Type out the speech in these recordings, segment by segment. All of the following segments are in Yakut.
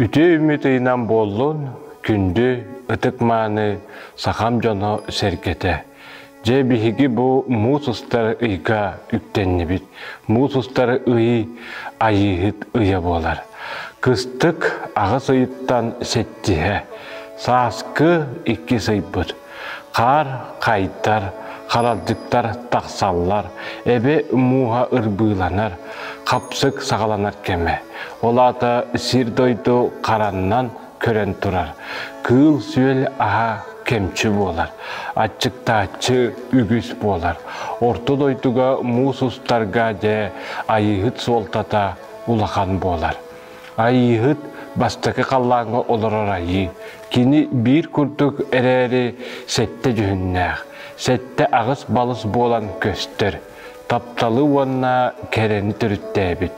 Үтүө үмүт ыйынан буоллун күндү ытык-мааны сахам дьоно сэргэтэ. Дьэ биһиги бу муус устар ыйга үктэннибит. Муус устар ый айыыһыт ыйа буолар. Кыстык аҕыс ыйыттан сэттиһэ, сааскы иккис ыйбыт. Хаар хайдар, харалдьыттар тахсаллар, эбэ мууһа ырбыыланар, хапсык саҕаланар кэмэ. Ол аата сир-дойду хараннан көрөн турар. Кыыл-сүөл аһа кэмчи буолар, аччыктааччы үгүс буолар. Орто дойдуга муус устарга дьэ айыыһыт суолтата улахан буолар. Айыыһыт бастакы халлааҥҥа олорор айыы. Кини биир курдук эрээри сэттэ дьүһүннээх. Сэттэ аҕыс-балыс буолан көстөр. Тапталы уонна кэрэни төрүттээбит.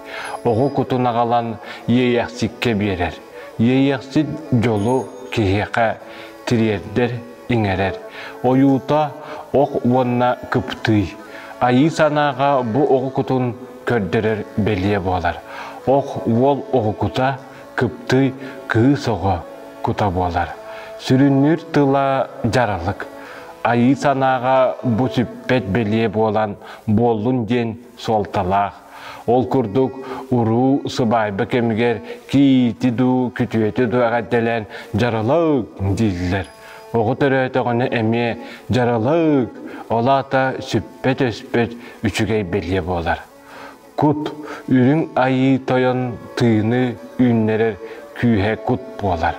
Оҕо кутун аҕалан иэйэхсиккэ биэрэр. Иэйэхсит дьолу киһиэхэ тириэрдэр, иҥэрэр. Ойуута ох уонна кыптыый. Айыы санааҕа бу оҕо кутун көрдөрөр бэлиэ буолар. Ох уол уһукута, кыптый, кыыс оҕо кута буолар. Сүрүннүүр тыла дьаралык. Айыы санааҕа бу сүппэт бэлиэ буолан буоллун диэн суолталаах. Ол курдук уруу сыбаайба кэмигэр киити дуу, күтүөтү дуу эҕэрдэлээн дьаралык дииллэр. Оҕо төрөөтөҕүнэ эмиэ дьаралык, ол аата сүппэт-өспөт үчүгэй бэлиэ буолар. Кут үрүҥ айыы тойон тыыны үүннэрэр күүһэ кут буолар.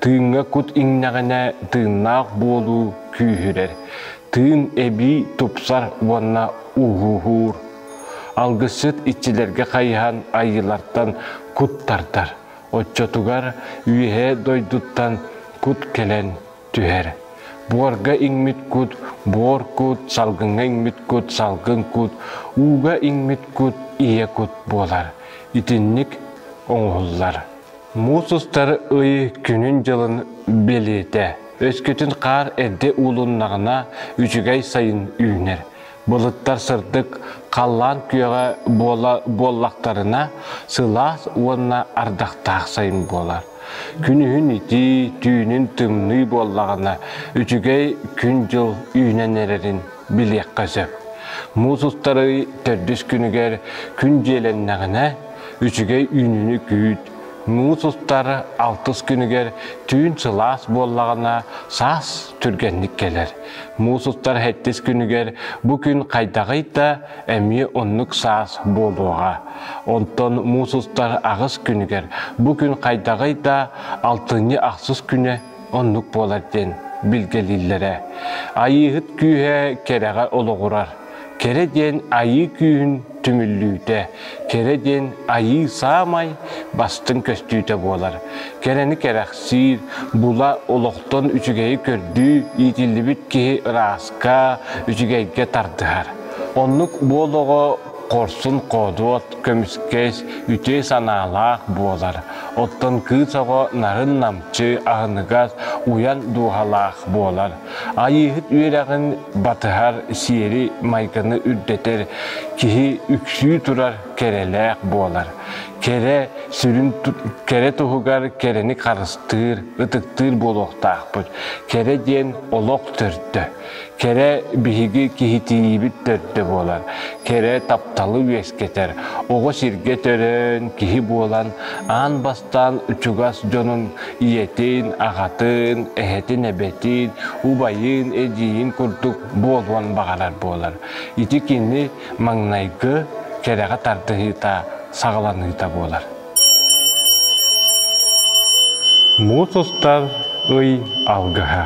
Тыыҥҥа кут иҥнэҕинэ тыыннаах буолуу күүһүрэр. Тыын эбии тупсар уонна ууһуур. Алгысчыт иччилэргэ хайыһан айыылартан кут тардар. Оччотугар үөһээ дойдуттан кут кэлэн түһэр. Буорга иҥмит кут буор кут, салгыҥҥа иҥмит кут салгын кут, ууга иҥмит кут ийэ кут буолар. Итинник оҥоһуллар. Муус устар ый күнүн-дьылын бэлиэтэ. Өскөтүн хаар эрдэ уулуннаҕына, үчүгэй сайын үүнэр. Былыттар сырдык халлаан күөҕэ буола буоллахтарына, сылаас уонна ардахтаах сайын буолар. Күнүһүн итии, түүнүн тымныы буоллаҕына, үчүгэй күн-дьыл үүнэн эрэрин билиэххэ сөп. Муус устарый төрдүс күнүгэр күн дьиэлэннэҕинэ, үчүгэй үүнүүнү күүт. Муус устар алтыс күнүгэр түүн сылаас буоллаҕына, саас түргэнник кэлэр. Муусуттар хэттис күнүгэр бу күн хайдаҕый да эмиэ оннук саас буолуоҕа. Онтон муусустар аҕыс күнүгэр бу күн хайдаҕый да алтынньы ахсыс күнэ оннук буолар диэн билгэлииллэрэ. Айыыһыт күүһэ кэрэҕэ олоҕурар. Кэрэ диэн айыы күүһүн түмүллүүтэ, кэрэ диэн айыы саамай бастыҥ көстүүтэ буолар. Кэрэни кэрэхсиир, була олохтон үчүгэйи көрдүү иитиллибит киһи ырааска, үчүгэйгэ тардыһар. Оннук буолоҕо хорсун хоодуот, көмүскэс, үтүө санаалаах буолар. Оттон кыыс оҕо нарын намчы, аһыныгас, уйан дууһалаах буолар. Айыыһыт үөрэҕин батыһар, сиэри-майгыны үрдэтэр, киһи үксүү турар кэрэлээх буолар. Кэрэ сүрүн кэрэ туһугар кэрэни харыстыыр, ытыктыыр буолуохтаахпыт. Кэрэ диэн олох төрдө. Кэрэ биһиги киһитиибит төрдө буолар. Кэрэ тапталы үөскэтэр. Оҕо сиргэ төрөөн, киһи буолан, аан Бастаан чугас дьонун, ийэтин, аҕатын, эһэтин, эбэтин, убайын, эдьиийин курдук буолуон баҕарар буолар. Ити кини маҥнайгы кэрэҕэ тардыһыыта, саҕаланыыта буолар. Муус устар ый алгыһа.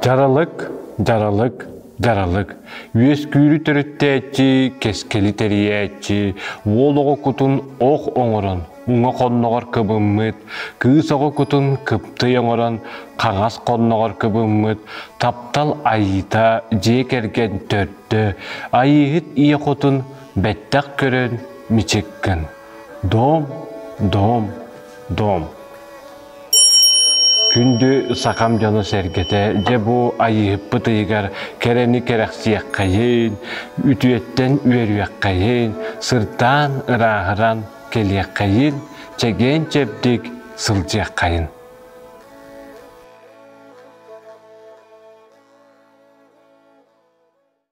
Дьаралык, дьаралык Даралык, үөскүүрү төрүттээччи, кэскили тэрийээччи, уол оҕо кутун ох оҥорон, уҥа хонноҕор кыбыммыт, кыыс оҕо кутун кыптый оҥорон, хаҥас хонноҕор кыбыммыт, таптал айыыта дьиэ кэргэн төрдө, айыыһыт ийэ хотун бэттэх көрөн мичиккын. Доом, доом, доом. Күндү сахам дьоно-сэргэтэ, дьэ бу Айыыһыппыт ыйыгар кэрэни кэрэхсиэххэйин, үтүөттэн үөрүөххэйин, сырдаан, ырааһыран кэлиэххэйин, чэгиэн-чэбдик сылдьыаххайын.